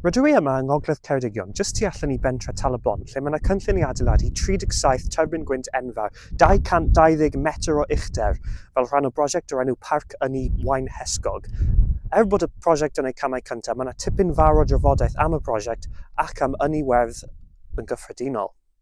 Rydw i yma yng Ngogledd Ceredigion, jyst tu allan i bentre' Tal-y-bont, lle mae yna cynllun i adeiladu 37 tyrbin gwynt enfawr, 220 metr o uchder, fel rhan o brosiect o'r enw 'Parc Ynni Waunhesgog'. Er bod y prosiect yn ei camau cyntaf, mae yna tipyn fawr o drafodaeth am y prosiect ac am ynni werdd yn gyffredinol.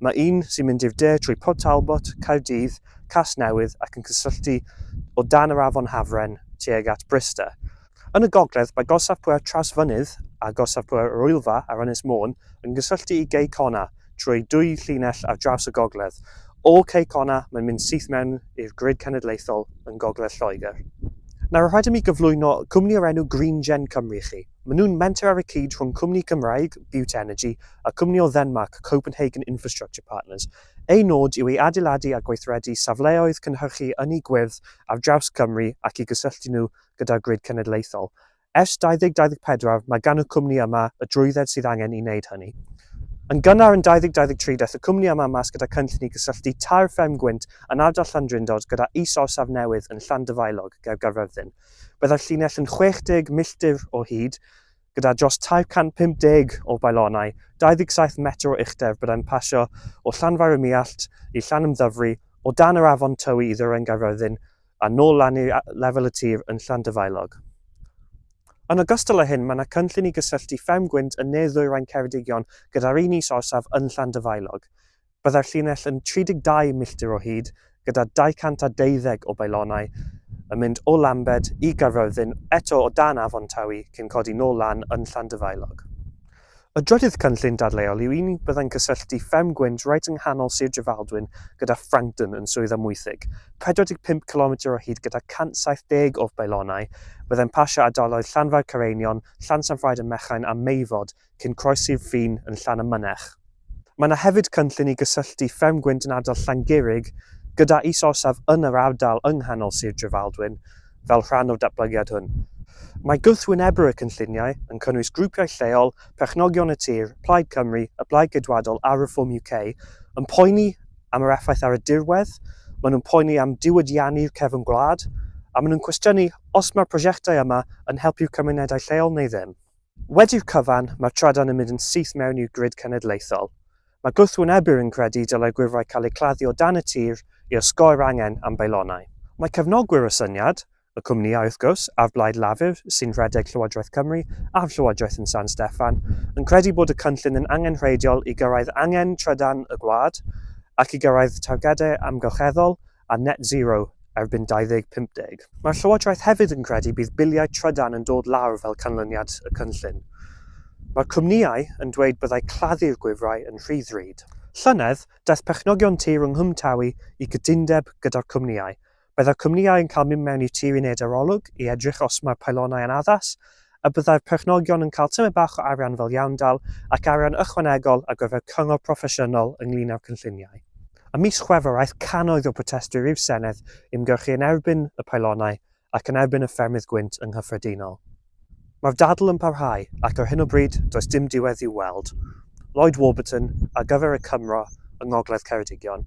Mae un sy'n mynd i'r de trwy Port Talbot, Caerdydd, Casnewydd ac yn cysylltu o dan yr afon Hafren tuag at Bryste. Yn y gogledd mae Gorsaf Pŵer Tras-fynydd a Gorsaf Pŵer yr Oelfa ar Ynys Môn yn gysylltu i Cei Connah trwy dwy llinell ar draws y gogledd. O Cei Connah mae'n mynd syth mewn i'r grid cenedlaethol yn gogledd Lloegr. Nawr rhaid i mi gyflwyno cwmni o'r enw GreenGen Cymru i chi. Maen nhw'n menter ar y cyd rhwng cwmni Cymraeg, Bute Energy, a cwmni o Ddenmarc, Copenhagen Infrastructure Partners. Ei nod yw ei adeiladu a gweithredu safleoedd cynhyrchu ynni gwyrdd ar draws Cymru ac i gysylltu nhw gyda'r grid cenedlaethol. Ers 2024, mae gan y cwmni yma y drwydded sydd angen i wneud hynny. Yn gynnar yn 2023, daeth y cwmni yma mas gyda cynllun i gysylltu tair fferm gwynt yn ardal Llandrindod gyda is-orsaf newydd yn Llandyfaelog ger Gaerfyrddin. Byddai'r llinell yn 60 milltir o hyd, gyda dros 350 o bylonau, 27 metr o uchder byddai'n pasio o Llanfair-y-Muallt i Llanymddyfri, o dan yr Afon Tywi i Ddwyrain Gaerfyrddin a nôl lan i lefel y tir yn Llanddyfaelog. Yn ogystal â hyn, mae yna cynllun i gysylltu Fferm Gwynt yn ne-ddwyrain Ceredigion gyda'r un is orsaf yn Llanddyfaelog. Byddai'r llinell yn 32 milltir o hyd, gyda 212 o bylonau, yn mynd o Lambed i Gaerfyrddin, eto o dan Afon Tawy, cyn codi nôl lan yn Llandyfaelog. Y drydydd cynllun dadleuol yw un byddai'n cysylltu Fferm Gwynt reit yng nghanol Sir Drefaldwyn gyda Frankton yn Swydd Amwythig, 45 cilometr o hyd gyda 170 o bylonau, fyddai'n pasio ardaloedd Llanfair Caereinion, Llansanffraid ym Mechain a Meifod, cyn croesi'r ffin yn Llanymynech. Mae yna hefyd cynllun i gysylltu Fferm Gwynt yn ardal Llangurig gyda is-orsaf yn yr ardal yng nghanol Sir Drefaldwyn fel rhan o'r datblygiad hwn. Mae gwrthwynebwyr y cynlluniau yn cynnwys grwpiau lleol, perchnogion y tir, Plaid Cymru, y Blaid Geidwadol a Reform UK, yn poeni am yr effaith ar y dirwedd, maen nhw'n poeni am diwydiannu'r cefn gwlad, a maen nhw'n cwestiynu os mae'r prosiectau yma yn helpu'r cymunedau lleol neu ddim. Wedi'r cyfan, mae'r trydan yn mynd yn syth mewn i'r grid cenedlaethol. Mae gwrthwynebyr yn credu y dylai gwifrau cael eu claddu o dan y tir i osgoi'r angen am beilonau. Mae cefnogwyr y syniad, y cwmnïau wrth gwrs, a'r Blaid Lafur sy'n rhedeg Llywodraeth Cymru a'r Llywodraeth yn San Steffan, yn credu bod y cynllun yn angenrheidiol i gyrraedd angen trydan y gwlad ac i gyrraedd targedau amgylcheddol a net zero erbyn 2050. Mae'r Llywodraeth hefyd yn credu bydd biliau trydan yn dod lawr fel canlyniad y cynllun. Mae'r cwmnïau yn dweud byddai claddu'r gwifrau yn rhy ddrud. Llynedd, daeth perchnogion tir yng Nghwm Tawy i gytundeb gyda'r cwmnïau. Byddai'r cwmnïau yn cael mynd mewn i'r tir i wneud arolwg i edrych os mae'r pylonau yn addas a byddai'r perchnogion yn cael tymed bach o arian fel iawndal ac arian ychwanegol ar gyfer cyngor proffesiynol ynglŷn â'r cynlluniau. Ym mis Chwefror aeth cannoedd o brotestwyr i'r Senedd ymgyrchu yn erbyn y paelonau ac yn erbyn y ffermydd gwynt yng nghyffredinol. Mae'r dadl yn parhau ac ar hyn o bryd does dim diwedd i'w weld. Lloyd Warburton ar gyfer y Cymro yng Ngogledd Ceredigion.